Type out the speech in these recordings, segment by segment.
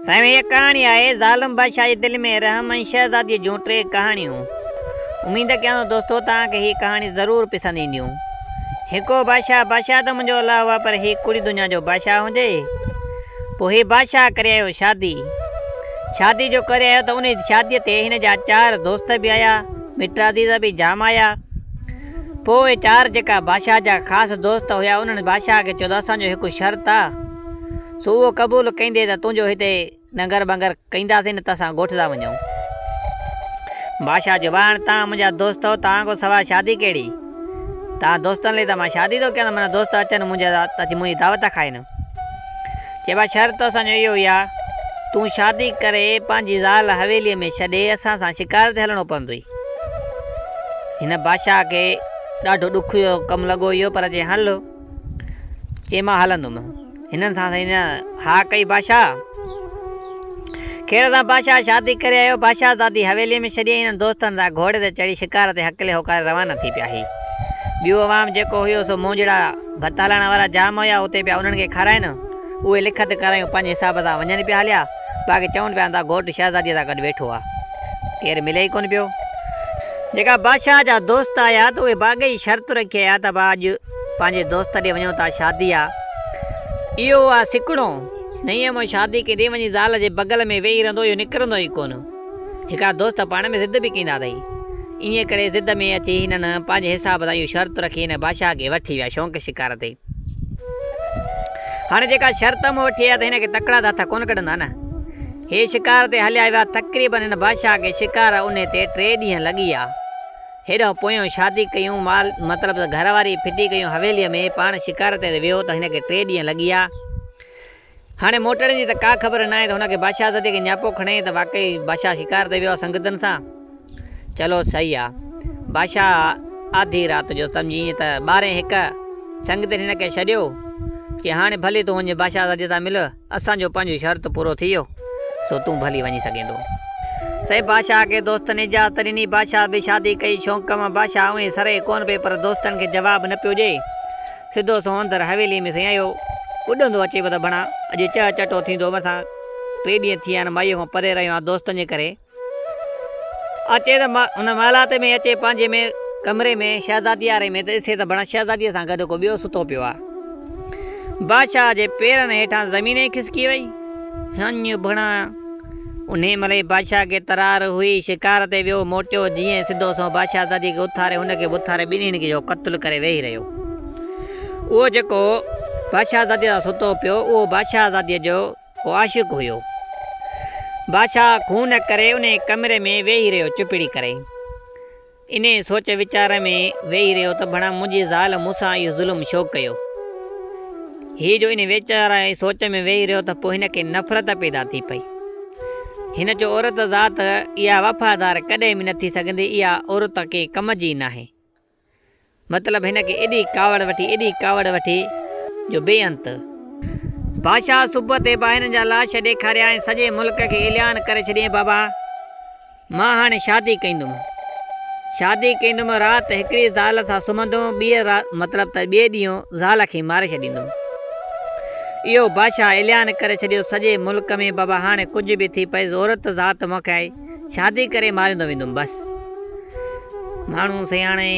سائين هيء ڪهاڻي آهي ظالم بادشاهه جي دل ۾ رحم ۽ شهزاديء جون ٽي ڪهاڻيون. اميد ڪيان ٿو دوستو توهان کي هي ڪهاڻي ضرور پسند اينديون. هڪو بادشاهه بادشاهه ته منهنجو الله هئا پر هي ڪڙي دنيا جو بادشاهه هجي. پوء هي بادشاهه ڪري آيو شادي. شادي جو ڪري آيو ته انهي شاديء تي هن جا چار دوست به آيا، مٽ عزيز به جام آيا. پوء اهي چار جيڪا بادشاهه جا خاص دوست هيا انهن بادشاهه کي چيو ته اسان جو هڪ شرط آ. سو اهو قبول ڪندي ته تنهنجو هتي ننگر ٻنگر ڪنداسين نه ته اسان ڳوٺ ٿا وڃون. بادشاهه جو ٻانهن، توهان منهنجا دوست آهيو، توهان کان سواء شادي ڪهڙي؟ توهان دوستن لئي ته مان شادي ٿو ڪيان ته منهنجا دوست اچن ۽ منهنجي دعوت کائن. چئي ڀلا شرط اسان جو اهو ئي آهي، تون شادي ڪري پنهنجي زال حويليء ۾ ڇڏي اسان سان شڪار تي هلڻو پوندوئي. هن بادشاهه کي ڏاڍو ڏک جو ڪم لڳو اهو پر چيائين هل! چي مان هلندم. هنن سان سائين نه ها ڪئي بادشاهه. خير سان بادشاهه شادي ڪري آيو. بادشاهه زادي حويليء ۾ ڇڏي ۽ هنن دوستن سان گهوڙي تي چڙهي شڪار تي هڪلي هوڪاري روانا ٿي پيا. هي ٻيو عوام جيڪو هيو سو مونجهڙا ڀت هلائڻ وارا جام هيا اتي پيا انهن کي کارائين. اهي لکت ڪرايون پنهنجي حساب سان وڃن پيا هليا باقي چون پيا اندا گهوٽ شهزاديء سان گڏ ويٺو آ. ڪير ملي ئي ڪونه پيو. جيڪا بادشاهه جا دوست آيا ته اهي باغي شرط رکي آيا ته اڀا اڄ. پنهنجي دوست ڏي وڃون ٿا شادي آ اهو آ سڪڻو نئين امو شادي ڪي ڏي وڃي زال جي بغل ۾ ويهي رهندو اهو نڪرندو ئي ڪونه هڪا دوست پاڻ ۾ ضد به ڪيندا اٿئي ايئن ڪري ضد ۾ اچي هنن پنهنجي حساب سان اهو شرط رکي هن بادشاهه کي وٺي ويا شونق شڪار تي هاڻي جيڪا شرط امو وٺي آيا ته هن کي تڪڙا ته هٿ ڪونه ڪڍندا نه هي شڪار تي هليا ويا تقريبن هن بادشاهه کي شڪار انهي تي ٽي ڏينهن لڳي آ. هيڏانهن پويان شادي ڪيون مال مطلب ته گهر واري ڦٽي ڪيون حويليء ۾ پاڻ شڪار تي ويو ته هن کي ٽي ڏينهن لڳي آيا. هاڻي موٽڻ جي ته ڪا خبر ناهي ته هن کي بادشاهه زادي کي نياپو کڻي ته واقعي بادشاهه شڪار تي ويو آهي سنگتن سان. چلو صحيح آهي. بادشاهه آڌي رات جو سمجهي ائين ته ٻارهين هڪ سنگتين هن کي ڇڏيو، چيائين هاڻي ڀلي تون وڃ بادشاهه زادي سان مل. اسان جو پنج شرط پورو ٿي ويو، سو تون به هلي وڃي سگهين ٿو. سائين بادشاهه کي دوستن اجازت ڏني. بادشاهه به شادي ڪئي. شونق مان بادشاهه اوهين سرهي ڪونه پئي پر دوستن کي جواب نه پيو ڏئي. سڌو سنئون اندر حويليء ۾ سيائيو. ٻڏندو اچي پيو ته ڀڻا اڄ چهچٽو ٿيندو. مٿان ٽي ڏينهن ٿي ويا آهن، مائيء کان پري رهيو آهيان، دوستن جي ڪري. اچي ته هن محلات ۾ اچي پنهنجي ۾ ڪمري ۾ شهزادي آري ۾ ته ڏسي ته بڻان شهزاديء سان گڏ ڪو ٻيو ستو پيو آهي. بادشاهه جي پيرن هيٺان زمين ئي کسڪي وئي. هنڃ بڻان انهي مهل ئي بادشاهه کي ترار هئي، شڪار تي ويو موٽيو جيئن ئي سڌو سنئون بادشاهزاديء کي اٿاري هن کي به اٿاري ٻنهين کي جو قتل ڪري ويهي رهيو. اهو جيڪو بادشاهزاديء سان ستو پيو اهو بادشاهزاديء جو ڪو عاشق هيو. بادشاهه خون ڪري انهي ڪمري ۾ ويهي رهيو چپڙي ڪري. انهي سوچ ويچار ۾ ويهي رهيو ته ڀڻا منهنجي زال مون سان اهو ظلم ڇو ڪيو. هي جو انهي ويچار ۽ سوچ ۾ ويهي رهيو ته پوء هن کي نفرت پيدا ٿي پئي. هن جو عورت ذات اها وفادار ڪڏهن به نه ٿي سگهندي اها عورت ڪنهن ڪم جي ناهي. مطلب هن کي ايڏي ڪاوڙ وٺي، ايڏي ڪاوڙ وٺي جو بي انت. بادشاهه صبح تي به هنن جا لاش ڏيکاريا ۽ سڄي ملڪ کي اعلان ڪري ڇڏيائين بابا! مان هاڻي شادي ڪندم. شادي ڪندم، رات هڪڙي زال سان سمهندم، ٻيء رات مطلب ته ٻئي ڏينهن زال کي ماري ڇڏيندم. اهو بادشاهه اعلان ڪري ڇڏيو سڄي ملڪ ۾ بابا هاڻي ڪجهه به ٿي پئي عورت ذات مون کي آئي. شادي ڪري ماريندو ويندم بس. ماڻهو سياڻي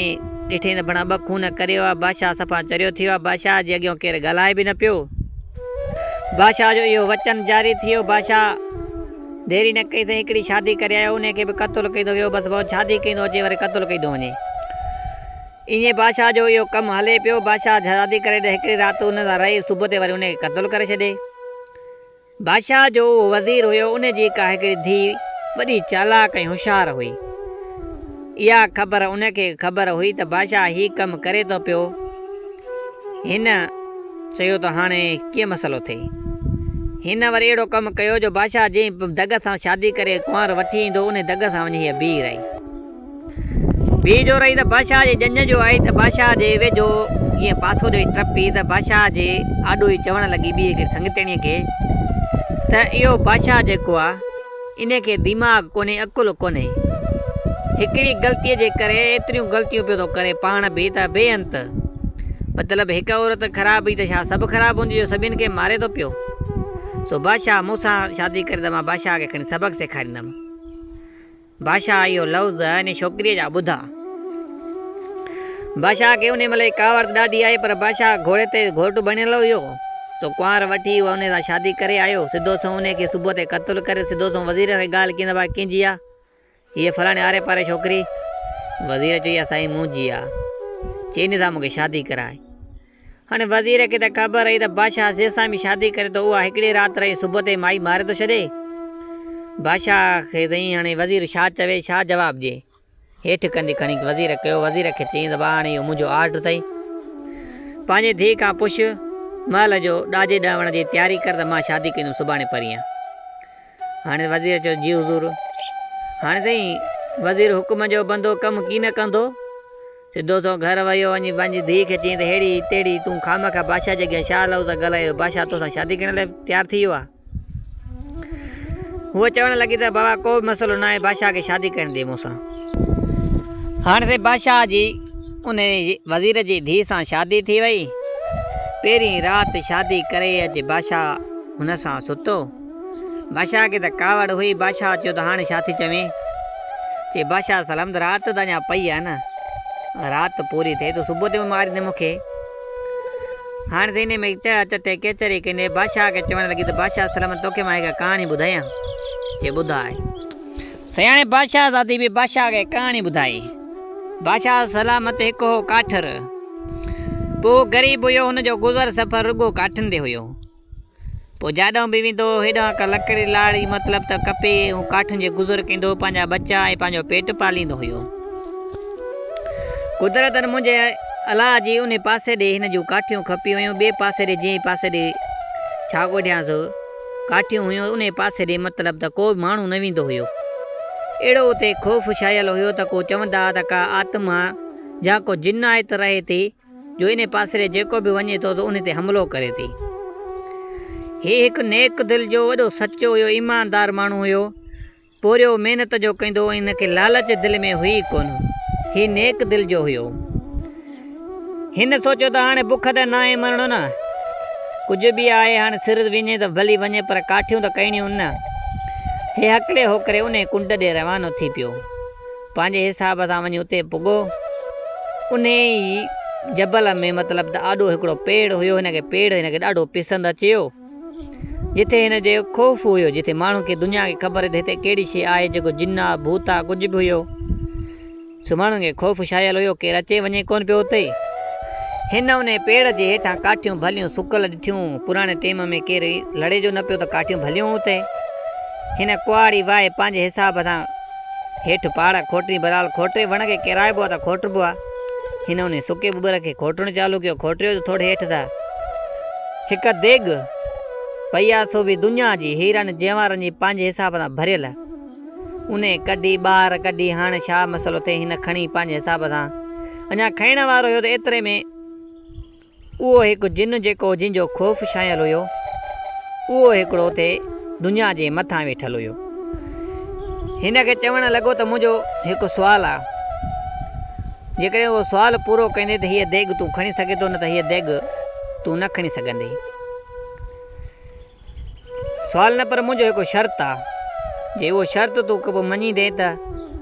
ڏٺي ته بڻا ٻه خون ڪري ويا. بادشاهه صفا چريو ٿي ويو. بادشاهه جي اڳيان ڪير ڳالهائي به نه پيو. بادشاهه جو اهو وچن جاري ٿي ويو. بادشاهه ديري نه ڪئي سائين هڪڙي شادي ڪري آيو انهي کي به قتل ڪيندو ويو بس ڀؤ شادي ڪيندو اچي وري قتل ڪيندو وڃي. ايئن بادشاهه جو اهو ڪم هلي پيو. بادشاهه شادي ڪري ته هڪڙي رات ان سان رهي صبح تي وري انهي کي قتل ڪري ڇڏي. بادشاهه جو اهو وزير هيو، ان جي ڪا هڪڙي ڌيء وڏي چالاڪ ۽ هوشيار هئي. اها خبر ان کي خبر هئي ته بادشاهه هي ڪم ڪري ٿو پيو. هن چيو ته هاڻي ڪيئن مسئلو ٿئي. هن وري اهڙو ڪم ڪيو جو بادشاهه جنهن به دڳ سان شادي ڪري ڪنوار وٺي ايندو، انهي دڳ سان وڃي هيء بيهي رهي. ٻي جو رهي ته بادشاهه جي ڄڃ جو آئي ته بادشاهه جي ويجهو ائين پاسو ڏيئي ٽپي ته بادشاهه جي آڏو ئي چوڻ لڳي ٻيء کي، سڱتيڻيء کي، ته اهو بادشاهه جيڪو آ، انهي کي ديماغ ڪونهي، عقل ڪونهي. هڪڙي غلطيء جي ڪري ايتريون غلطيون پيو ٿو ڪري پاڻ به ته بي انت. مطلب هڪ عورت خراب هئي ته ڇا سڀ خراب هونديون جو سڀني کي ماري ٿو پيو. سو بادشاهه مون سان شادي ڪري ته مان بادشاهه کي کڻي سبق سيکاريندم. بادشاهه اهو لفظ انهيء ڇوڪريء جا ٻڌا. بادشاهه کي انهيء ملئي ڪاوڙ ته ڏاڍي آئي، پر بادشاهه گهوڙي تي گهوٽ بڻيل هيو، سو ڪنوار وٺي اهو انهيء سان شادي ڪري آيو. سڌو سنئون انهيء کي صبح تي قتل ڪري، سڌو سنئون وزير کي ڳالهه ڪيندي ڀاء ڪين جيئا، هيء فلاڻي آري پاري ڇوڪري؟ وزير چيو يا سائين مون جيئا، چي انهيء سان مون کي شادي ڪرائي. هن وزير کي ته خبر رهي ته بادشاهه زيد سان به شادي ڪري ٿو اها هڪڙي رات رهي صبح تائين مائي ماري ٿو ڇڏي. بادشاهه کي سائين هاڻي وزير ڇا چوي ڇا جواب ڏئي. هيٺ ڪنڌي کڻي وزير ڪيو وزير کي چيائين ته ڀاء هاڻي اهو منهنجو آرڊر اٿئي پنهنجي ڌيء کان پڇ مهل جو ڏاجي ڏهوڻ جي تياري ڪر ته مان شادي ڪندم سڀاڻي پرينهن. هاڻي وزير چيو جي حضور. هاڻي سائين وزير حڪم جو بندو ڪم ڪين ڪندو. سڌو سنئون گهر ويو وڃي پنهنجي ڌيء کي چيائين ته ههڙي تهڙي تون خامخواه بادشاهه جي اڳيان ڇا لفظ ڳالهائي جو بادشاهه توسان شادي ڪرڻ لاء تيار ٿي ويو آهي. هوء چوڻ لڳي ته بابا ڪو به مسئلو ناهي بادشاهه کي شادي ڪرڻ ڏي مون سان. هاڻ سائين بادشاهه جي ان وزير جي ڌيء سان شادي ٿي وئي. پهرين رات شادي ڪري اچي بادشاهه هن سان ستو. بادشاهه کي ته ڪاوڙ هئي، بادشاهه چيو ته هاڻي ڇا ٿي چوين؟ چي بادشاهه سلامت رات ته اڃا پئي آهي نه، رات پوري ٿئي تون صبح تي ماريندين مون کي. هاڻي ته انهي ۾ چڙا چٽي ڪيچري ڪندي بادشاهه کي چوڻ لڳي ته بادشاهه سلامت توکي مان هڪ ڪهاڻي ٻڌايان؟ چي ٻڌاء. سياڻي بادشاهه زادي به بادشاهه کي ڪهاڻي ٻڌائي. بادشاهه سلامت هڪ هو ڪاٺر. پوء غريب هيو هن جو گذر سفر رڳو ڪاٺن تي هيو. پوء جاڏانهن به ويندو هو، هيڏانهن ڪا لڪڙي لاڙي مطلب ته ڪپي ۽ ڪاٺن جي گذر ڪندو هو، پنهنجا ٻچا ۽ پنهنجو پيٽ پاليندو هيو. قدرتاً منهنجي الاء جي انهي پاسي ڏي هن جون ڪاٺيون کپي ويون، ٻئي پاسي ڏي جنهن پاسي ڏي ڇاڳوٺيانس ڪاٺيون هيون، انهي پاسي ڏي مطلب ته ڪو به ماڻهو نه ويندو هيو. اهڙو اتي خوف ڇانيل هيو ته ڪو چوندا ها ته ڪا آتما جا ڪو جن آيت رهي ٿي، جو انهي پاسري جيڪو به وڃي ٿو سو انهي تي حملو ڪري ٿي. هي هڪ نيڪ دل جو وڏو سچو هيو ايماندار ماڻهو هيو پورهيو محنت جو ڪندو هو هن کي لالچ دل ۾ هئي ئي ڪونه هي نيڪ دل جو هيو هن سوچيو ته هاڻي بک ته ناهي مرڻو نه ڪجهه به آهي هاڻي سر وڃي ته ڀلي وڃي پر ڪاٺيون ته ڪرڻيون نه هي هڪلي هوڪري انهي ڪنڊ ڏي روانو ٿي پيو. پنهنجي حساب سان وڃي اتي پڳو. انهيء ئي جبل ۾ مطلب ته آڏو هڪڙو پيڙ هيو. هن کي پيڙ هن کي ڏاڍو پسند اچيو. جتي هن جي خوف هيو. جتي ماڻهن کي دنيا کي خبر هئي ته هتي ڪهڙي شيء آهي جيڪو جن آ ڀوت آ ڪجهه به هيو. سو ماڻهن کي خوف ڇانيل هيو. ڪير اچي وڃي ڪونه پيو اتي. هن انهيء پيڙ جي هيٺان ڪاٺيون ڀليون سڪل ڏٺيون. پراڻي ٽيم ۾ ڪير لڙي جو نه پيو ته ڪاٺيون ڀليون اتي. هن ڪهاڙي وهائي پنهنجي حساب سان. هيٺ پاڙ کوٽري برحال کوٽري وڻ کي ڪيرائبو آ ته کوٽربو آ. هن انهي سڪي ٻٻر کي کوٽڻ چالو ڪيو. کوٽريو جو ٿوڙي هيٺ ته هڪ ديڳ پئي آ سو به دنيا جي هيرن جينوارن جي پنهنجي حساب سان ڀريل. انهي ڪڍي ٻاهر ڪڍي هاڻ ڇا مسئلو ٿئي هن کڻي پنهنجي حساب سان اڃا کائڻ وارو هيو ته ايتري ۾ اهو هڪ جن جيڪو جن جو خوف ڇانيل هيو، اهو هڪڙو تي دنيا جي مٿان ويٺل هيو. هن کي چوڻ لڳو ته منهنجو هڪ سوال آ، جيڪڏهن اهو سوال پورو ڪندين ته هيء ديڳ تون کڻي سگهين ٿو نه ته هيء ديڳ تون نه کڻي سگهندين. سوال نه پر منهنجو هڪ شرط آ. جي اهو شرط تون ڪبه مڃيندين ته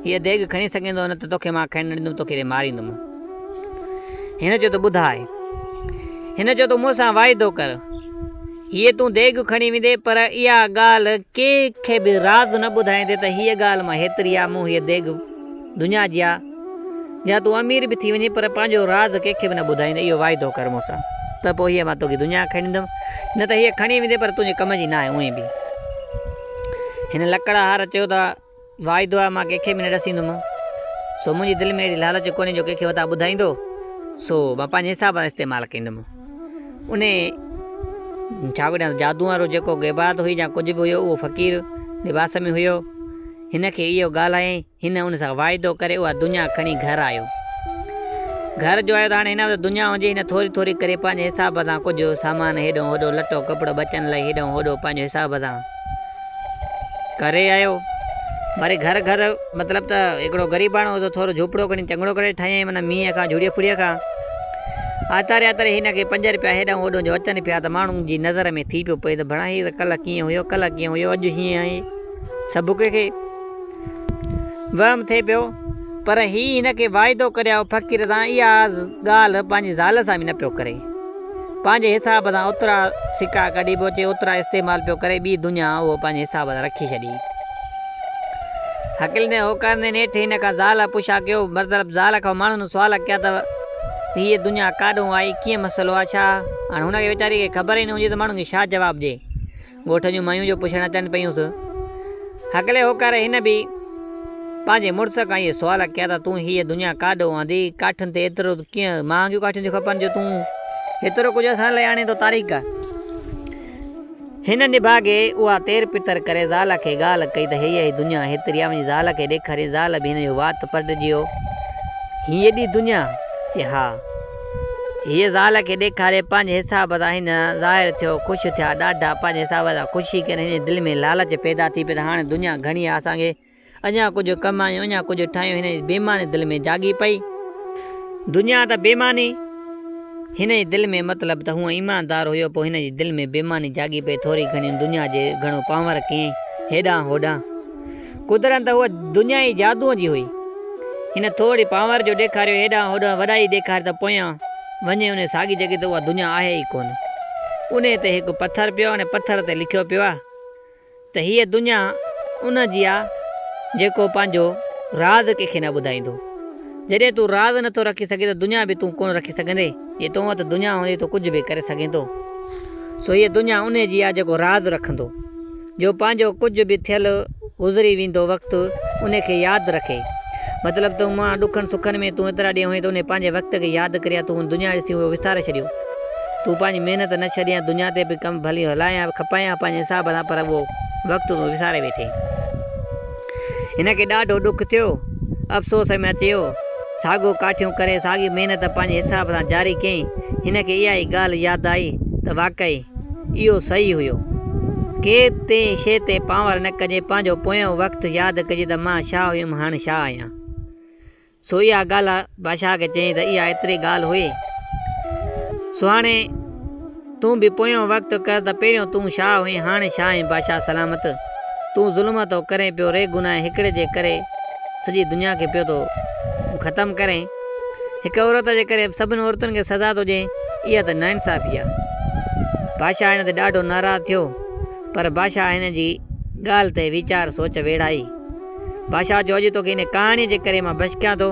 هيء ديڳ کڻي سگهين ٿو نه ته توکي مان کائڻ نه ڏيندم توکي تي ماريندم. هن چيو ته ٻڌاء. هن چيو تون مون سان واعدو ڪر. هيء تون ديڳ کڻي ويندين پر اها ڳالهه ڪنهن کي به راز نه ٻڌائيندين ته هيء ڳالهه مان هيتري آ مون هيء ديڳ دنيا جي آ. يا تون امير به ٿي وڃين پر پنهنجو راز ڪنهن کي به نه ٻڌائيندين اهو واعدو ڪر مون سان ته پوء هيء مان توکي دنيا کڻي ڏيندم نه ته هيء کڻي ويندين پر تنهنجي ڪم جي ناهي اونهي به هن لڪڙهار چيو ته واعدو آهي مان ڪنهن کي به نه ڏسيندم سو منهنجي دل ۾ اهڙي لالچ ڪونهي جو ڪنهن کي وتا ٻڌائيندو سو مان پنهنجي حساب سان استعمال ڪندم انهي ڇا وڏا جادو وارو جيڪو غيبات هئي يا ڪجهه به هيو اهو فقير لباس ۾ هيو هن کي اهو ڳالهائين هن ان سان واعدو ڪري اها دنيا کڻي گهر آيو. گهر جو آيو ته هاڻي هن وٽ دنيا هجي هن ٿوري ٿوري ڪري پنهنجي حساب سان ڪجهه سامان هيڏهون هوڏهون لٽو ڪپڙو ٻچن لاء هيڏهون هوڏهون پنهنجو حساب سان ڪري آيو. وري گهر گهر مطلب ته هڪڙو غريباڻو هو ٿورو جهوپڙو کڻي چڱڙو ڪري ٺاهيائين معنيٰ مينهن کان جهڙي ڦڙي کان آتاري آتاري هن کي پنج رپيا هيڏهون هوڏهون جو اچن پيا ته ماڻهن جي نظر ۾ ٿي پيو پئي ته ڀڻا هي ته ڪلهه ڪيئن هيو ڪلهه ڪيئن هيو اڄ هيئن آهي سڀڪو کي وهم ٿئي پيو، پر هي هن کي واعدو ڪريائو فقير سان اها ڳالهه پنهنجي زال سان به نه پيو ڪري. پنهنجي حساب سان اوترا سڪا ڪڍي پيو چي اوترا استعمال پيو ڪري ٻي دنيا اهو پنهنجي حساب سان رکي ڇڏي. هڪلندي هوڪارندي نيٺ هن کان زال پڇا ڪيو مطلب زال کان ماڻهن سوال ڪيا ته هيء دنيا ڪاڏهون آئي ڪيئن مسئلو آ ڇا؟ هاڻ هن کي ويچاري کي خبر ئي نه هجي ته ماڻهن کي ڇا جواب ڏي. ڳوٺ جون مايون جو پڇڻ اچن پيون سو هڪلي هوڪاري هن به پنهنجي مڙس کان اهي سوال ڪيا ته تون هيء دنيا ڪاڏو آندي؟ ڪاٺين تي ايترو ڪيئن مهانگيون ڪاٺيون ٿيون کپن جو تون ايترو ڪجهه اسان لاء آڻين ٿو تاريڪ؟ هن نڀاڳي اها تير پتر ڪري زال کي ڳالهه ڪئي ته هيء هي دنيا هيتري آ وڃي زال کي ڏيکارين زال به هن جو وات پٽجيو هيء ايڏي دنيا؟ چي ها. هيء زال کي ڏيکاري پنهنجي حساب سان هن ظاهر ٿيو. خوش ٿيا ڏاڍا پنهنجي حساب سان. خوشي ڪين هن جي دل ۾ لالچ پيدا ٿي پئي ته هاڻي دنيا گهڻي آهي اسان کي اڃا ڪجهه ڪمايون اڃا ڪجهه ٺاهيون هن جي بيماني دل ۾ جاڳي پئي. دنيا ته بيماني هن جي دل ۾ مطلب ته هونء ايماندار هيو پوء هن جي دل ۾ بيماني جاڳي پئي ٿوري گهڻي هن دنيا جي گهڻو پنهور ڪيئي هيڏانهن هوڏانهن. قدرن ته هوء دنيا ئي جادوء جي هئي. هن ٿورڙي پانور جو ڏيکاريو هيڏانهن هوڏانهن وڏائي ڏيکاري ته پويان وڃي انهيء ساڳي جڳهه تي اها دنيا آهي ئي ڪونه. انهيء تي هڪ پٿر پيو ۽ پٿر تي لکيو پيو آهي ته هيء دنيا ان جي آهي جيڪو پنهنجو راز ڪنهن کي نه ٻڌائيندو. جڏهن تون راز نه ٿو رکي سگهين ته دنيا به تون ڪونه رکي سگهندين. جي تو وٽ دنيا هوندي تون ڪجهه به ڪري سگهين ٿو. سو هيء دنيا انهيء جي آهي جيڪو راز رکندو. جو پنهنجو ڪجهه به ٿيل گذري ويندو وقت انهي کي ياد رکي مطلب ته امان ڏکن سکن ۾ تون ايترا ڏينهن هئين ته انهي پنهنجي وقت کي ياد ڪري يا تون دنيا ڏسي اهو وساري ڇڏيو تون پنهنجي محنت نه ڇڏين دنيا تي به ڪم ڀلي هلائين يا کپائين يا پنهنجي حساب سان پر اهو وقت تون وساري ويٺين. هن کي ڏاڍو ڏک ٿيو. افسوس ۾ اچيو. ساڳو ڪاٺيون ڪري ساڳي محنت پنهنجي حساب سان جاري ڪيائين. هن کي اها ئي ڳالهه ياد آئي ته واقعي اهو صحيح هيو. ڪنهن شيء تي پانور نه ڪجي، پنهنجو پويون وقت ياد ڪجي ته مان شاهه هيم هاڻ شاهه آهيان. سو اها ڳالهه بادشاهه کي چيائين ته اها ايتري ڳالهه هئي. سو هاڻي تون به پويون وقت ڪر ته پهريون تون شاهه هئين هاڻي شاهه آهين بادشاهه سلامت. تون ظلم ٿو ڪرين پيو ري گناهه هڪڙي جي ڪري سڄي دنيا کي پيو ٿو ختم ڪرين. هڪ عورت جي ڪري سڀن عورتن کي سزا ٿو ڏين اها ته ناانصافي آهي. بادشاهه هن تي ڏاڍو ناراض ٿيو پر بادشاهه هن جي ڳالهه تي ويچار سوچ ويڙهائي. بادشاهه چيو اڄ توکي ان ڪهاڻي جي ڪري مان بشڪيان ٿو،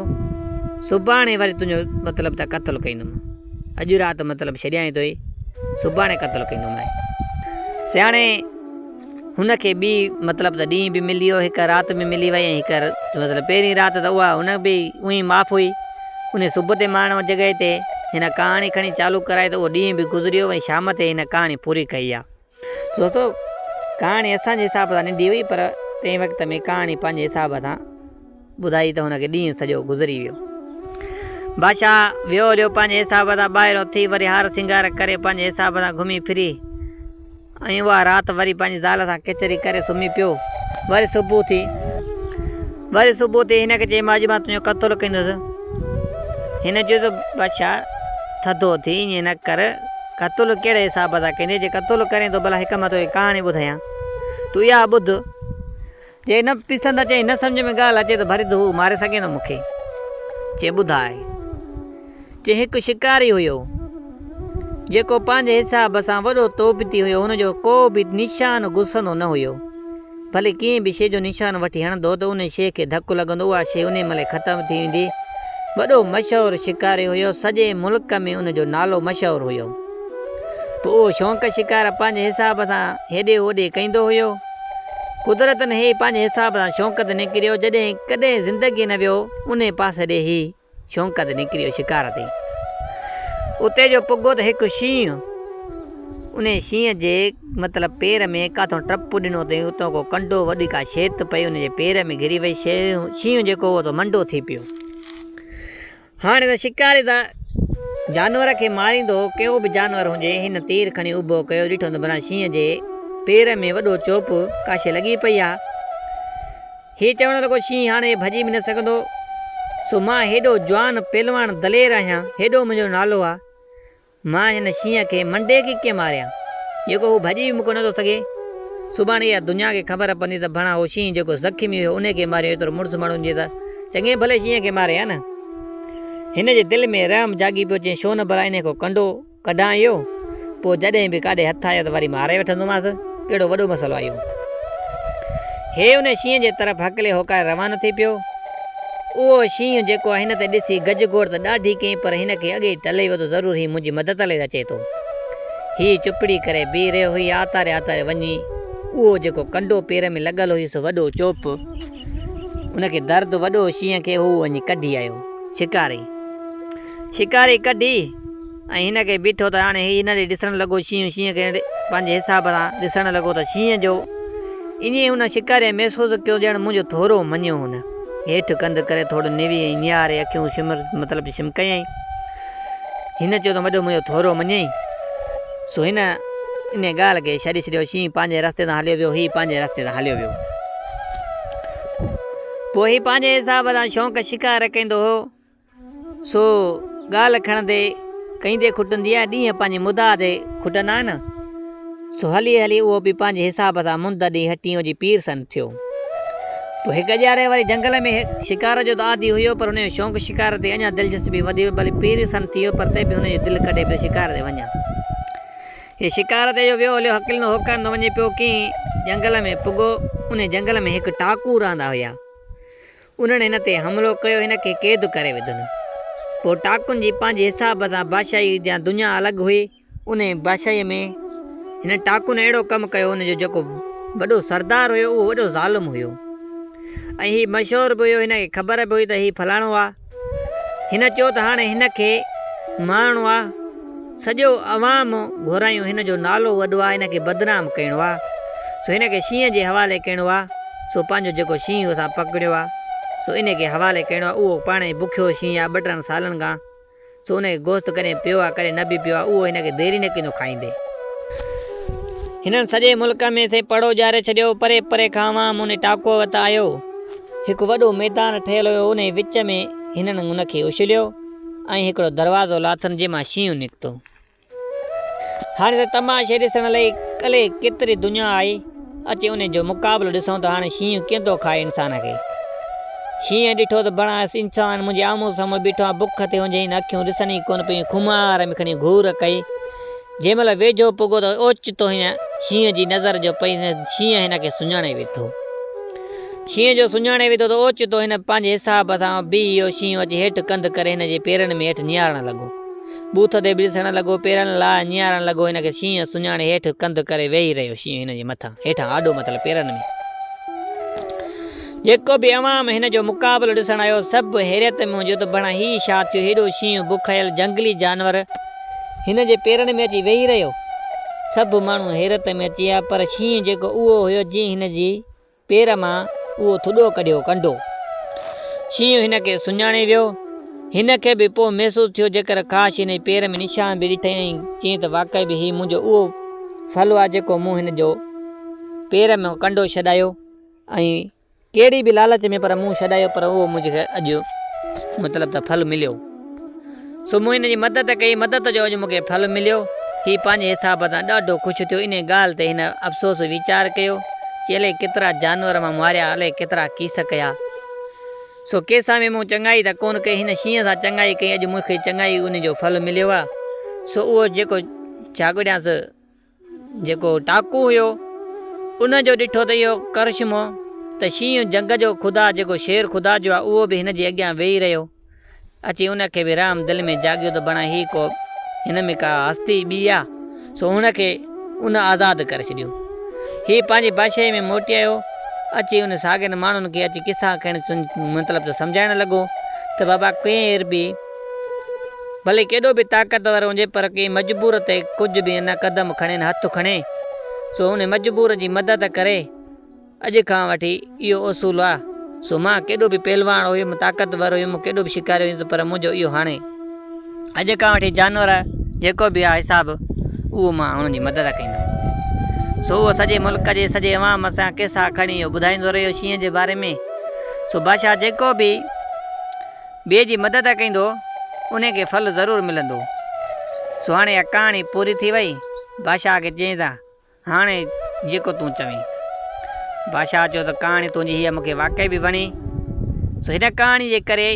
سڀاڻي وري تنهنجو مطلب ته قتل ڪيندومانء. اڄ رات مطلب ڇڏيائين توئي، سڀاڻي قتل ڪيندومانء. سياڻي هن کي ٻي مطلب ته ڏينهن به ملي ويو، هڪ رات به ملي وئي ۽ هڪ مطلب پهرين رات ته اها هن به اونهي معاف هئي. انهي صبح تي ماڻهن ان جڳهه تي هن ڪهاڻي کڻي چالو ڪرائي ته اهو ڏينهن به گذريو ۽ شام تي هن ڪهاڻي پوري ڪئي آ. دوستو ڪهاڻي اسان جي حساب سان ننڍي هئي پر تنهن وقت ۾ ڪهاڻي پنهنجي حساب سان ٻڌائي ته ان کي ڏينهن سڄو گذري ويو. بادشاهه ويو هليو پنهنجي حساب سان ٻاهريون ٿي وري هار سينگار ڪري پنهنجي حساب سان گهمي ڦري ۽ اها رات وري پنهنجي زال سان ڪچهري ڪري سمهي پيو وري صبح ٿي وري صبح ٿي هن کي چيم اڄ مان تنهنجو قتل ڪندس هن چيو ته بادشاهه ٿڌو ٿي ائين نه ڪر قتل ڪهڙي حساب سان ڪندين؟ جي قتل ڪرين ته ڀلا هڪ مان توکي ڪهاڻي ٻڌايان، تون اها ٻڌ. جي نه پسند اچي ۽ نه سمجهه ۾ ڳالهه اچي ته ڀري ته هو ماري سگهين ٿو مون کي. چيائين ٻڌاء. چيائين هڪ شڪاري هيو، جيڪو پنهنجي حساب سان وڏو توبتي هيو، هن جو ڪو به نشان گسندو نه هيو. ڀلي ڪنهن به شيء جو نشان وٺي هڻندو ته انهي شيء کي ڌڪ لڳندو، اها شيء انهي مهل ختم ٿي ويندي. وڏو مشهور شڪاري هيو، سڄي ملڪ ۾ ان جو نالو مشهور هيو. پوء اهو شونق شڪار پنهنجي حساب سان هيڏي هوڏي ڪيندو هيو. قدرتن هي پنهنجي حساب سان شونق تي نڪريو، جڏهن ڪڏهن زندگيء نه ويو، انهي پاسي ڏي هي. ڇونڪ تي نڪريو شڪار تي. اتي جو پڳو ته هڪ شينهن. انهيء شينهن جي مطلب پير ۾ ڪاٿئون ٽپ ڏنو تئين اتئون ڪو ڪنڊو وڏي ڪا شيء تت پئي ان جي پير ۾ گهري وئي. شينهن جيڪو هو سو منڊو ٿي پيو. هاڻ هن شڪاري ته جانور کي ماريندو هو ڪهو به جانور هجي. هن تير کڻي اڀو ڪيو ڏٺو ته ڀلا شينهن جي پير ۾ وڏو چوپ ڪا شيء لڳي پئي آ. هي چوڻ لڳو، شينهن هاڻي ڀڄي به نه سگهندو، سو مان هيڏو جوان، پهلواڻ، دلير آهيان، هيڏو منهنجو نالو آ، مان هن شينهن کي منڊي کي ڪيئن ماريان، جيڪو هو ڀڄي به مون کان نٿو سگهي. سڀاڻي اها دنيا کي خبر پوندي ته ڀڻا هو شينهن جيڪو زخمي هيو انهي کي ماريو، ايترو مڙس ماڻهن جي ته چڱي ڀلي شينهن کي ماري ها نه. هن جي دل ۾ رحم جاڳي پيو، چيائين، ڇو نه ڀلا انهي ڪو ڪنڊو، ڪڍان اهو پوء جڏهن به ڪاڏي هٿ آيو ته وري ماري وٺندومانس، ڪهڙو وڏو مسئلو آهي اهو. هيء ان شينهن جي طرف هڪلي هوڪاري روانو ٿي پيو. اهو شينهن جيڪو هن تي ڏسي گج گوڙ ته ڏاڍي ڪئي پر هن کي اڳي ئي ٽلهي وڌو ضرور هي منهنجي مدد لئي اچي ٿو. هيء چپڙي ڪري بيهي رهيو هيء آتاري آتاري وڃي اهو جيڪو ڪنڊو پير ۾ لڳل هيس سو وڏو چوپ ان کي درد وڏو شينهن کي هو وڃي ڪڍي آيو. شڪاري. شڪاري ڪڍي ۽ هن کي بيٺو ته هاڻي هي هن ڏي ڏسڻ لڳو شينهن، شينهن کي پنهنجي حساب سان ڏسڻ لڳو ته شينهن جو ايئن هن شڪاري محسوس ڪيو ڄڻ منهنجو ٿورو مڃيو هن هيٺ ڪنڌ ڪري ٿورو نوي ۽ نهاري اکيون شمر مطلب شم ڪيائين هن چيو ته وڏو منهنجو ٿورو مڃين سو هن انهي ڳالهه کي ڇڏي ڇڏيو شينهن پنهنجي رستي تان هليو ويو هي پنهنجي رستي تان هليو ويو پوء هي پنهنجي حساب سان شونق شڪار ڪيندو هو سو ڳالهه کڻندي ڪهيندي کٽندي ۽ ڏينهن پنهنجي مدعا تي کٽندا آهن. سو هلي هلي اهو به پنهنجي حساب سان مند ڏينهن ٽينهن جي پير سن ٿيو. پوء هڪ اجاري واري جهنگل ۾ شڪار جو ته عادي هيو پر هن جو شوق شڪار تي اڃا دلچسپي وڌي وئي بلڪ پير سن ٿيو پر تي به هن جي دل ڪڍي پيو شڪار تي وڃان. هي شڪار تي جو ويو هليو هڪلندو هوڪرندو وڃي پيو ڪنهن جهنگل ۾ پڳو انهي جهنگل ۾ هڪ ٽاڪو رهندا هيا. انهن هن تي حملو ڪيو هن کي قيد ڪري وڌن. پوء ٽاڪن جي پنهنجي حساب سان بادشاهي جيان دنيا الڳ هئي. انهيء بادشاهيء ۾ هنن ٽاڪن اهڙو ڪم ڪيو هن جو جيڪو وڏو سردار هيو اهو وڏو ظالم هيو ۽ هي مشهور به هيو هن کي خبر به هئي ته هي فلاڻو آ هن چيو ته هاڻي هن کي مارڻو آ. سڄو عوام گهرايون هن جو نالو وڏو آ هن کي بدنام ڪيڻو آ سو هن کي شينهن جي حوالي ڪيڻو آ سو پنهنجو جيڪو شينهن اسان پڪڙيو آ سو انهي کي حوالي ڪيڻو آ اهو پاڻ ئي بکيو شينهن آ ٻه ٽن سالن کان سو ان کي گوست ڪڏهن پيو آ ڪڏهن نه به پيو آ اهو هن کي ديري نه ڪندو کائيندي. هنن سڄي ملڪ ۾ سي پڙو ڄاري ڇڏيو پري پري کان عوام انهي ٽاڪو وٽ آيو هڪ وڏو ميدان ٺهيل هيو انهي وچ ۾ هنن ان کي اڇليو. ۽ هڪڙو دروازو لاٿم جنهن مان شينهن نڪتو. هاڻي ته تماشي ڏسڻ لئي الئي ڪيتري دنيا آئي اچي ان جو مقابلو ڏسون ته هاڻي شينهن ڪيئن ٿو کائي انسان کي. شينهن ڏٺو ته بڻايس انسان منهنجي آمهون سامهون بيٺو آ بک تي هنجهين اکيون ڏسن ئي ڪونه پيون خمار ۾ کڻي گهور ڪئي. جنهن مهل ويجهو پڳو ته اوچتو هن شينهن جي نظر جو پئي ته شينهن هن کي سڃاڻي ويٺو. شينهن جو سڃاڻي ويٺو ته اوچتو هن پنهنجي حساب سان بيهي ويو. شينهن اچي هيٺ ڪنڌ ڪري هن جي پيرن ۾ هيٺ نهارڻ لڳو. بوٿ تي ٻرسڻ لڳو، پيرن لاء نهارڻ لڳو. هن کي شينهن سڃاڻي هيٺ ڪنڌ ڪري ويهي رهيو. شينهن هن جي مٿان، هيٺان آڏو متل پيرن ۾. جيڪو به عوام هن جو مقابلو ڏسڻ آيو سڀ حيرت ۾ هو جو ته ڀڻا هي ڇا ٿيو. هيڏو شينهن بکيل جهنگلي جانور! هن جي پيرن ۾ اچي ويهي رهيو. سڀ ماڻهو حيرت ۾ اچي ويا، پر شينهن جيڪو اهو هيو جنهن هن جي پير مان اهو ٿڏو ڪڍيو، ڪنڊو. شينهن هن کي سڃاڻي ويو. هن کي به پوء محسوس ٿيو جيڪر ڪاش هن جي پير ۾ نشان به ڏٺئي ۽ چيائين ته واقعي به هي منهنجو اهو ڦل آهي جيڪو مون هن جو پير مان ڪنڊو ڇڏايو ۽ ڪهڙي به لالچ ۾ پر مون ڇڏايو پر اهو منهنجي کي اڄ مطلب ته ڦل مليو. سو مون هن جي مدد ڪئي، مدد جو اڄ مون کي ڦل مليو. هي پنهنجي حساب سان ڏاڍو خوش ٿيو. انهيء ڳالهه تي هن افسوس ويچار ڪيو چي الائي ڪيترا جانور مان ماريا، الائي ڪيترا ڪيس ڪيا. سو ڪنهن سان به مون چڱائي ته ڪونه ڪئي، هن شينهن سان چڱائي ڪئي، اڄ مون کي چڱائي انهيء جو ڦل مليو آهي. سو اهو جيڪو جاڳوڙيانس. جيڪو ٽاڪو هيو، ان جو ڏٺو ته اهو ڪرشمو ته شينهن جهنگ جو خدا جيڪو شير خدا جو آهي اهو به هن جي اڳيان ويهي رهيو. اچي ان کي به رحم دل ۾ جاڳيو ته بڻا هي ڪو هن ۾ ڪا هستي ٻي آ سو هن کي ان آزاد ڪري ڇڏيو. هي پنهنجي بادشاهي ۾ موٽي آيو. اچي ان ساڳين ماڻهن کي اچي قصا ڪهڻ مطلب ته سمجهائڻ لڳو ته بابا ڪير به ڀلي ڪيڏو به طاقتور هجي پر ڪنهن مجبور تي ڪجهه به نه قدم کڻين هٿ کڻي سو ان مجبور جي مدد ڪري اڄ کان وٺي اهو اصول آ سو مان ڪيڏو به پهلوان هيم طاقتور هيم ڪيڏو به شڪاري هيس پر منهنجو اهو هاڻي اڄ کان وٺي جانور جيڪو به آ حساب اهو مان هن جي مدد ڪندم سو اهو سڄي ملڪ جي سڄي عوام سان قصا کڻي اهو ٻڌائيندو رهيو شينهن جي باري ۾ سو بادشاهه جيڪو به ٻئي جي مدد ڪيندو انهي کي ڦل ضرور ملندو. سو هاڻي اها ڪهاڻي پوري ٿي وئي. بادشاهه کي چيائين ته هاڻي جيڪو تون چوين. بادشاهه چيو ته ڪهاڻي تنهنجي هيء مون کي واقعي به وڻي. سو هن ڪهاڻي جي ڪري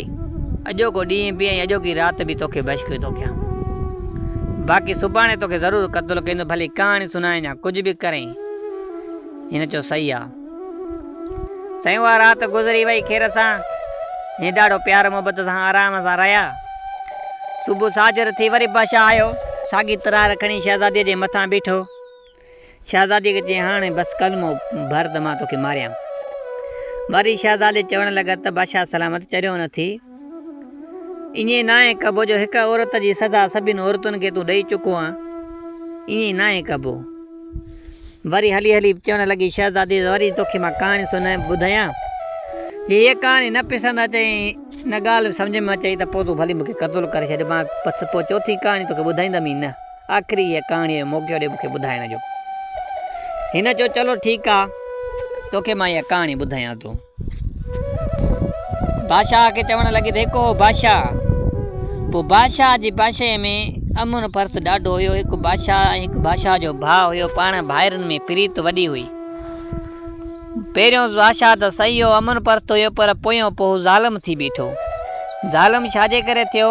اڄوڪو ڏينهن به ۽ اڄوڪي رات به توکي بشڪري ٿو ڪيان. باقي سڀاڻي توکي ضرور قتل ڪيندو ڀلي ڪهاڻي سنائين يا ڪجهه به ڪرين. هن چيو صحيح آ. سائين اها رات گذري وئي خير سان هي ڏاڍو پيار محبت سان آرام سان رهيا صبح ساجر ٿي وري بادشاهه آيو ساڳي ترار کڻي شهزادي جي مٿان بيٺو شهزادي کي چي هاڻي بس ڪلمو ڀر ته مان توکي ماريان وري شهزادي چوڻ لڳا ته بادشاهه سلامت چريو نه ٿي ائين ناهي ڪبو جو هڪ عورت جي سزا سڀني عورتن کي تون ڏئي چڪو آهين. ائين ناهي ڪبو. وري هلي هلي چوڻ لڳي شهزادي وري توکي مان ڪهاڻي سڻائي ٻڌايان. جي هيء ڪهاڻي نه پسند اچئي ۽ نه ڳالهه سمجهه ۾ اچئي ته پوء تون ڀلي مون کي قتل ڪري ڇڏ مان پس پوء چوٿين ڪهاڻي توکي ٻڌائيندم ئي نه. آخري هيء ڪهاڻيء جو موقعو ڏي مون کي ٻڌائڻ جو. هن چيو چلو ٺيڪ آهي توکي مان اها ڪهاڻي ٻڌايان ٿو. بادشاهه کي چوڻ لڳي ته هڪ هو بادشاهه. پوء بادشاهه جي بادشاهيء ۾ امن پرست ڏاڍو هيو. هڪ بادشاهه ۽ هڪ بادشاهه جو ڀاء هيو. پاڻ ڀائرن ۾ پريت وڏي هئي. پهريون بادشاهه ته سهيو امن پرست هيو پر پويون پوء هو ظالم ٿي بيٺو. ظالم ڇا جي ڪري ٿيو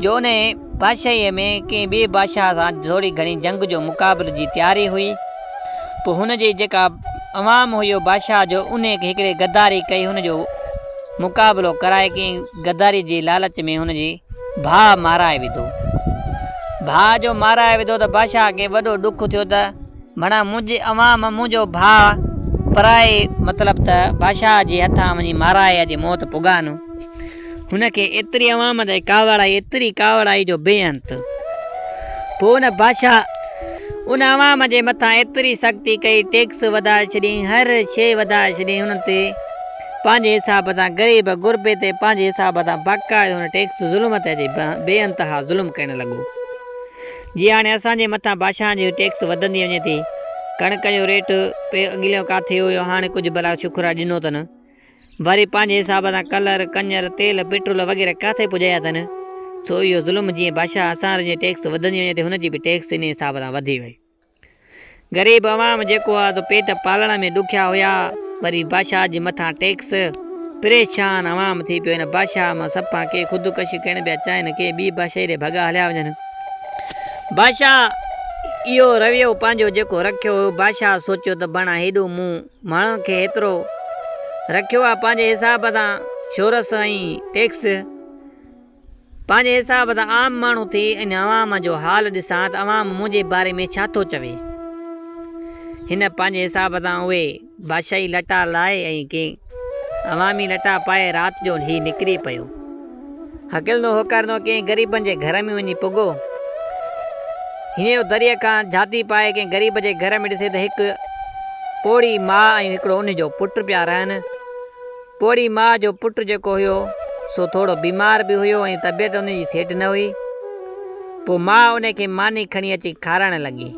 جو انهيء بادشاهيء ۾ ڪنهن ٻئي بادشاهه سان ٿوري گهڻي جنگ جو مقابلي جي تياري هئي. پوء هن جي جيڪا عوام هئي اهو بادشاهه جو انهي کي هڪڙي غداري ڪئي هن جو مقابلو ڪرائي ڪنهن غداري جي لالچ ۾ هن جي ڀاء مارائي وڌو ڀاء جو مارائي وڌو ته بادشاهه کي وڏو ڏک ٿيو ته مڙا منهنجي عوام منهنجو ڀاء پرائي مطلب ته بادشاهه جي هٿان وڃي مارائي اڄ موت پڳانو هن کي ايتري عوام تي ڪاوڙ آئي، ايتري ڪاوڙ آئي جو بي انت. پوء ان بادشاهه ان عوام جي مٿان ايتري سختي ڪئي، ٽيڪس وڌائي ڇڏيائين، هر شيء وڌائي ڇڏيائين، انهن تي پنهنجي حساب سان غريب غربي تي پنهنجي حساب سان باقاعدو ان ٽيڪس ظلم تي اچي بي انتها ظلم ڪرڻ لڳو. جي هاڻي اسان جي مٿان بادشاهن جي ٽيڪس وڌندي وڃي ٿي، ڪڻڪ جو ريٽ پي اڳليون ڪاٿي هيو، هاڻي ڪجهه ڀلا شڪر آ ڏنو اٿن. وري پنهنجي حساب سان ڪلر، ڪڃر، تيل، پيٽرول وغيره ڪاٿي پڄايا اٿن. سو اهو ظلم جيئن بادشاهه اسانر جي ٽيڪس وڌندي وڃي تي هن جي به ٽيڪس انهي حساب سان وڌي وئي. غريب عوام جيڪو ها سو پيٽ پالڻ ۾ ڏکيا هيا وري بادشاهه جي مٿان ٽيڪس. پريشان عوام ٿي پيو هن بادشاهه مان سڀ پان ڪي خودڪشي ڪرڻ پيا چاهين ڪي ٻي بادشاهي ڏي ڀڳا هليا وڃن. بادشاهه اهو رويو پنهنجو جيڪو رکيو هيو بادشاهه سوچيو ته بڻا هيڏو مون. ماڻهن کي ايترو رکيو آ پنهنجي حساب سان شورس ۽ ٽيڪس پنهنجي حساب سان عام ماڻهو ٿي ان عوام جو حال ڏسان ته عوام منهنجي باري ۾ ڇا ٿو چوي هن پنهنجي حساب سان اهي بادشاهي لٽا لائي ۽ ڪي عوامي لٽا پائي رات جو هي نڪري پيو هڪل نو هوڪار نو ڪنهن غريبن جي گهر ۾ وڃي پڳو. هينئن هو دريء کان جهاتي پائي ڪنهن غريب جي گهر ۾ ڏسي ته هڪ پوڙهي ماء ۽ هڪڙو ان جو پٽ پيا رهن. پوڙهي ماء جو پٽ جيڪو هيو سو ٿورو بيمار به هيو ۽ طبيعت ان جي سيٽ نه هئي. پوء ماء ان کي ماني کڻي اچي کارائڻ لڳي.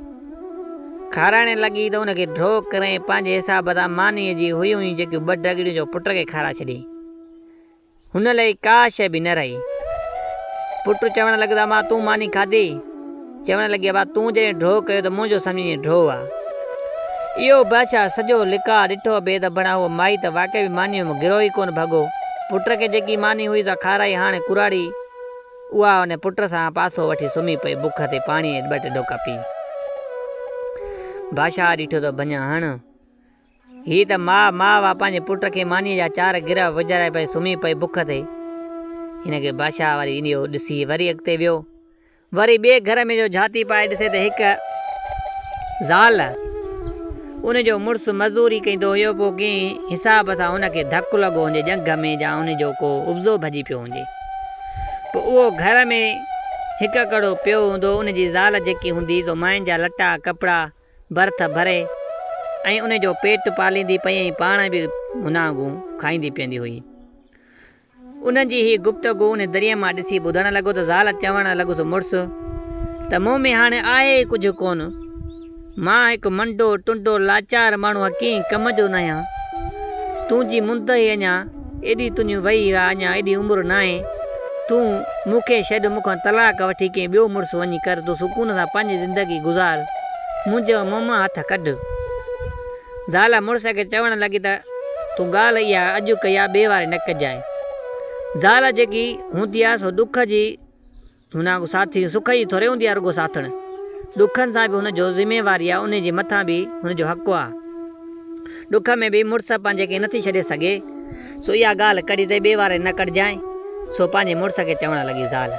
کارائڻ لڳي ته ان کي ڍو ڪري پنهنجي حساب سان مانيء جي هيون هيون جڪيون ٻه ڍڳڙيون جو پٽ کي کارائي ڇڏيائين. هن لئي ڪا شيء به نه رهي. پٽ چوڻ لڳس امان تون ماني کاڌي؟ چوڻ لڳي ابا تون جڏهن ڊوهه ڪيو ته منهنجو سمجهين ڊوهه آ. اهو بادشاهه سڄو لقاء ڏٺو بيد ابڻ اهو مائي ته واقعي به مانيء مان گروهه ئي ڪونه ڀڳو. پٽ کي جيڪي ماني هئي سا کارائي هاڻي ڪراڙي اها ان پٽ سان پاسو وٺي سمهي پئي بک تي پاڻيء جا ٻه ٽي ڍوڪا پي. بادشاهه ڏٺو ته ڀڃ هڻ هيء ته ماء ماء هئا، پنهنجي پٽ کي مانيء جا چار گرهه وجهارائي پئي سمهي پئي بک تي. هن کي بادشاهه واري اهو ڏسي وري اڳتي ويو. وري ٻئي گهر ۾ جو جهاتي پائي ڏسي ته هڪ زال، ان جو مڙس مزدوري ڪندو هيو، پوء ڪنهن حساب سان ان کي ڌڪ لڳو هجي ڄنگهه ۾ جا ان جو ڪو عضو ڀڄي پيو هجي. پوء اهو گهر ۾ هڪ ڪڙو پيو هوندو، ان جي زال جيڪي هوندي سو ماين جا لٽا، ڪپڙا، برٿ ڀري ۽ ان جو پيٽ پاليندي پئي ۽ پاڻ به ڀناگون کائيندي پيئندي هئي. انهن جي هي گفتگو ان دريء مان ڏسي ٻڌڻ لڳو ته زال چوڻ لڳس مڙس ته مون ۾ هاڻي آهي ئي ڪجهه ڪونه. مان هڪ منڊو ٽنڊو لاچار ماڻهو ڪنهن ڪم جو ناهيان. تنهنجي منڌ ئي اڃا ايڏي تنهنجي وئي آ اڃا ايڏي عمر ناهي تون مون کي ڇڏ مون کان طلاق وٺي ڪنهن ٻيو مڙس وڃي ڪر تون سڪون سان پنهنجي زندگي گذار منهنجو مون مان هٿ ڪڍ زال مڙس کي چوڻ لڳي ته تون ڳالهه اها اڄ ڪئي آ ٻي واري نه ڪجانء زال جيڪي هوندي آ سو ڏک جي هن وانگو ساٿي سک جي ٿوري هوندي آ رڳو ساٿڻ ڏکن سان به هن جو ذميواري آ انهي جي مٿان به هن جو حق آ ڏک ۾ به مڙس پنهنجي کي نٿي ڇڏي سگهي سو اها ڳالهه ڪڙي تي ٻي واري نه ڪڙجانء سو پنهنجي مڙس کي چوڻ لڳي زال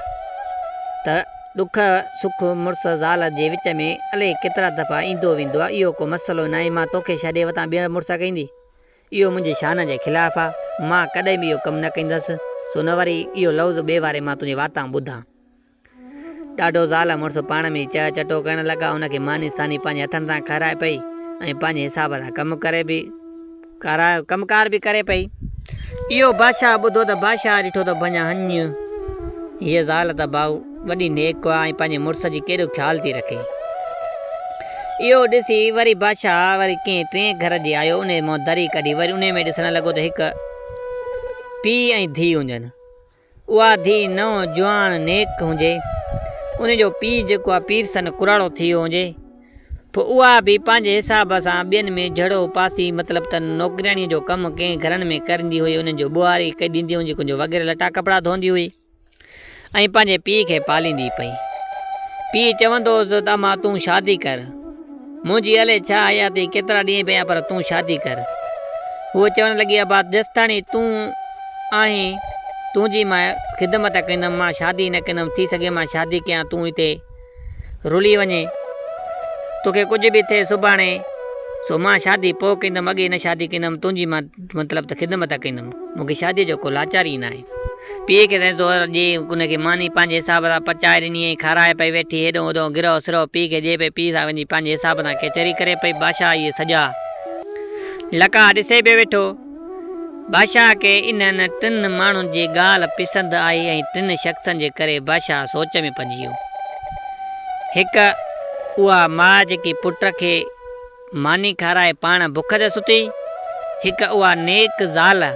ته ڏک سک مڙس زال جي وچ ۾ الئي ڪيترا دفعا ايندو ويندو آ اهو ڪو مسئلو ناهي مان توکي ڇڏي وتان ٻيهر مڙس ڪيندي اهو منهنجي شان جي خلاف آ، مان ڪڏهن به اهو ڪم نه ڪندس، سو نه وري اهو لفظ ٻئي واري مان تنهنجي واتان ٻڌان. ڏاڍو زال مڙس پاڻ ۾ ئي چهه چٽو ڪرڻ لڳا، ان کي ماني ساني پنهنجي هٿن سان کارائي پئي ۽ پنهنجي حساب سان ڪم ڪري به ڪارا ڪم ڪار به ڪري پئي. اهو بادشاهه ٻڌو ته بادشاهه ڏٺو ته ڀڃان هنڃ، هيء زال ته ڀائو! وڏي نيڪ ڪوئا ۽ پنهنجي مڙس جي ڪيڏو خيال ٿي رکي. اهو ڏسي وري بادشاهه وري ڪنهن ٽئين گهر ڏي آيو انهي منهن دري ڪڍي وري انهي ۾ ڏسڻ لڳو ته هڪ پيء ۽ ڌيء هجن اها ڌيء نئون جوان نيڪ هجي انهي جو پيء جيڪو آهي پير سن ڪراڙو ٿي ويو هجي پوء اها به پنهنجي حساب سان ٻين ۾ جهڙو پاسي مطلب ته نوڪرياڻي جو ڪم ڪنهن گهرن ۾ ڪرندي هئي انهن جو ٻوهاري ڪئي ڏيندي هجي ڪنهن جو وغيره لٽا ڪپڙا ڌوئندي هئي. ۽ پنهنجي پيء کي پاليندي پئي. پيء چوندو هوس ته امان تون شادي ڪر. منهنجي الئي ڇا حياتي ڪيترا ڏينهن پيا پر تون شادي ڪر. هوء چوڻ لڳي ابا جيستاڻي تون آهين تنهنجي مان خدمت ڪندم مان شادي نه ڪندم ٿي سگهي مان شادي ڪيان تون هتي رلي وڃي توکي ڪجهه به ٿئي سڀاڻي سو مان شادي پوء ڪندم اڳي نه شادي ڪندم تنهنجي مان مطلب ته خدمت ڪندم مون کي شاديء جو ڪو لاچار ئي ناهي. پيء کي سائين زهر ڏئي ان کي ماني پنهنجي حساب سان پچائي ڏني ۽ کارائي پئي ويٺي هيڏهون هوڏهون گرهو سرهو پيء کي ڏئي پئي پيء سان وڃي پنهنجي حساب سان ڪچهري ڪري پئي بادشاهه اهي سڄا لقاء ڏسي به ويٺو بادشاهه کي انهن ٽن ماڻهن جي ڳالهه پسند آئي ۽ ٽن شخصن جي ڪري بادشاهه سوچ ۾ پئجي ويو. هڪ اها ماء جيڪي پٽ کي ماني کارائي پاڻ بک تي ستي، هڪ اها نيڪ زال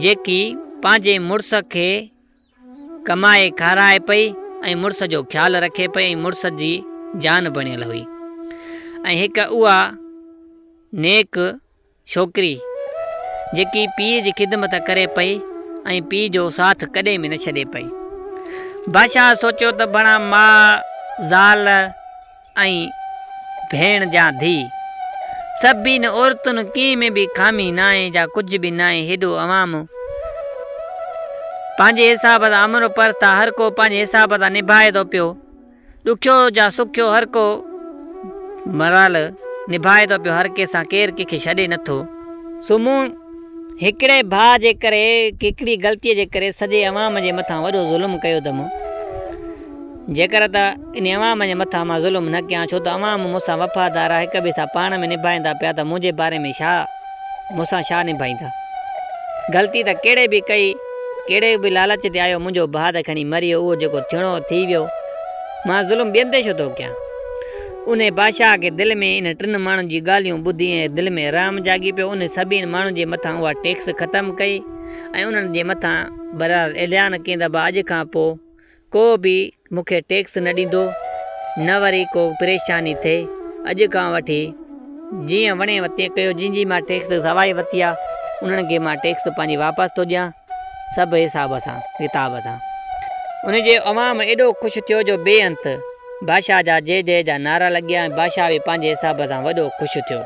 جيڪي پنهنجي مڙس کي ڪمائي کارائي پئي ۽ مڙس جو خيال رکي پئي ۽ مڙس جي جان بڻيل هئي ۽ هڪ اها نيڪ ڇوڪري، جيڪي پيء جي خدمت ڪري پئي ۽ پيء جو ساٿ ڪڏهن به نه ڇڏي پئي. بادشاهه سوچيو ته بڻا ماء، زال ۽ ڀيڻ جا ڌيء. سڀني عورتن ڪنهن ۾ به خامي ناهي جا ڪجهه به ناهي هيڏو عوام پنهنجي حساب سان امرو پرست آ هر ڪو پنهنجي حساب سان نڀائي ٿو پيو. ڏکيو يا سکيو هر ڪو مرحلو نڀائي ٿو پيو، هر ڪنهن سان ڪير ڪنهن کي ڇڏي نه ٿو. سو مون هڪڙي ڀاء جي ڪري، هڪڙي غلطيء جي ڪري سڄي عوام جي مٿان وڏو ظلم ڪيو ته مون جيڪر ته ان عوام جي مٿان مان ظلم نه ڪيان ڇو ته عوام مون سان وفادار آهي، هڪ ٻئي سان پاڻ ۾ نڀائين ٿا پيا ته منهنجي باري ۾ ڇا؟ مون سان ڇا نڀائيندا؟ غلطي ته ڪهڙي به ڪئي، ڪهڙي به لالچ تي آيو، منهنجو ڀاء ته کڻي مري ويو، اهو جيڪو ٿيڻو هو ٿي ويو، مان ظلم ٻين تي ڇو ٿو ڪيان؟ انهي بادشاهه کي دل ۾ انهن ٽن ماڻهن جون ڳالهيون ٻڌي ائين دل ۾ رحم جاڳي پيو، انهن سڀني ماڻهن جي مٿان اها ٽيڪس ختم ڪئي ۽ انهن جي مٿان بهرحال اعلان ڪيندابه اڄ کان پوء ڪو به مون کي ٽيڪس نه ڏيندو نه وري ڪو پريشاني ٿئي اڄ کان وٺي جيئن وڻي تيئن ڪيو جن جي مان ٽيڪس سواء ورتي آ انهن کي مان ٽيڪس پنهنجي واپس ٿو ڏيان سڀ حساب سان ڪتاب سان ان جي عوام ايڏو خوش ٿيو جو بي انت بادشاهه جا جي جي جا نعرا لڳيا ۽ بادشاهه به پنهنجي حساب سان وڏو خوش ٿيو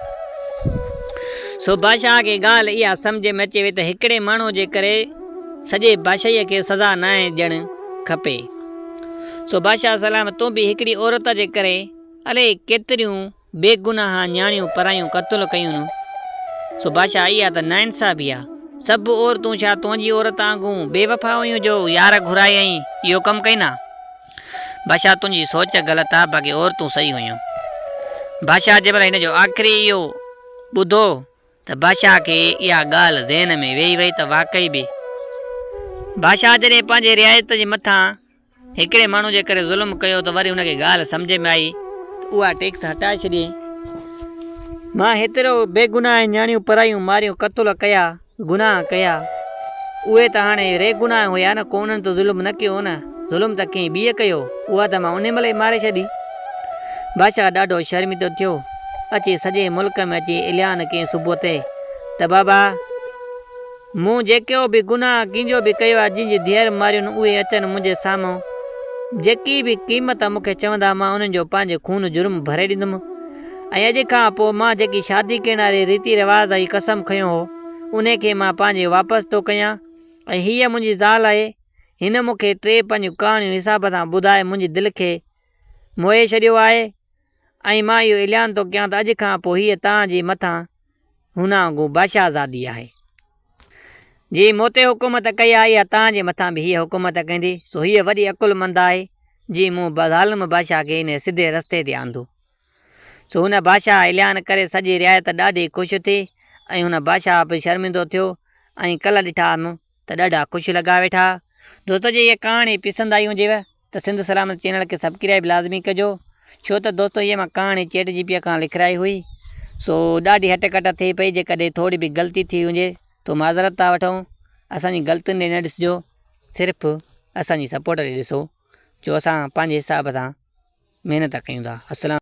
سو بادشاهه کي ڳالهه اها سمجهه ۾ اچي وئي ته هڪڙي ماڻهو جي ڪري سڄي بادشاهيء کي سزا ناهي ڏيڻ کپي. سو بادشاهه سلام تون به هڪڙي عورت جي ڪري الائي ڪيتريون بيگناهه نياڻيون پرايون قتل ڪيون. سو بادشاهه اها ته ناانصافي آ. سڀ عورتون ڇا تنهنجي عورت آنگون بي وفا هيون جو يار گهرائي ۽ اهو ڪم ڪئين ها. بادشاهه تنهنجي سوچ غلط آ باقي عورتون صحيح هيون. بادشاهه جنهن مهل هن جو آخري اهو ٻڌو ته بادشاهه کي اها ڳالهه ذهن ۾ ويهي وئي ته واقعي به بادشاهه جڏهن پنهنجي رعايت جي مٿان هڪڙي ماڻهو جي ڪري ظلم ڪيو ته وري هن کي ڳالهه سمجهه ۾ آئي ته اها ٽيڪس هٽائي ڇڏي. مان هيترو بيگناهه ۽ نياڻيون پرايون ماريون قتل ڪيا، گناهه ڪيا. اهي ته هاڻي ري گناهه هيا نه ڪو انهن ته ظلم نه ڪيو نه ظلم ته ڪنهن ٻيء ڪيو اها ته مان انهي مهل ئي ماري ڇڏي. بادشاهه ڏاڍو شرمندو ٿيو. اچي سڄي ملڪ ۾ اچي عليان ڪين صبح تي ته بابا مون جيڪو به گناهه ڪنهنجو به ڪيو آهي جن جي ڌيئر ماريون اهي اچن منهنجي سامهون جيڪي به قيمت مون کي چوندا مان انهن جو پنهنجي خون جرم ڀري ڏيندم ۽ اڄ کان پوء مان جيڪي شادي ڪرڻ واري ريتي رواز ۽ قسم کنيو هو ان کي مان پنهنجي واپس ٿو ڪيان ۽ هيء منهنجي زال آهي هن مون کي ٽي پنهنجون ڪهاڻيون حساب سان ٻڌائي منهنجي دل کي موهي ڇڏيو آهي ۽ مان اهو اعلان ٿو ڪيان ته اڄ کان پوء هيء توهان جي مٿان هونانگون بادشاهزادي آهي. جي مون تي حڪومت ڪئي آهي اها توهان جي مٿان به هيء حڪومت ڪندي، سو هيء وڏي عقلمند آهي، جي مون ظالم بادشاهه کي انهيء سڌي رستي تي آندو. سو هن بادشاهه اعلان ڪري سڄي رعايت ڏاڍي خوش ٿي، ۽ هن بادشاهه به شرمندو ٿيو، ۽ ڪلهه ڏٺا م. ته ڏاڍا خوش لڳا ويٺا. دوستو جي هيء ڪهاڻي پسند آئي هجيو ته سنڌ سلامت چينل کي سبڪرائيب لازمي ڪجو ڇو ته دوستو هيء مان ڪهاڻي چيٽ جي پيء کان لکرائي هئي سو ڏاڍي هٽ ڪٽ ٿئي پئي جيڪڏهن ٿوري به غلطي ٿي هجي تو معذرت ٿا وٺون اسان جي غلطين ڏي نه ڏسجو صرف اسان جي سپورٽ ڏي ڏسو جو اسان پنهنجي حساب سان محنت ڪيون ٿا السلام.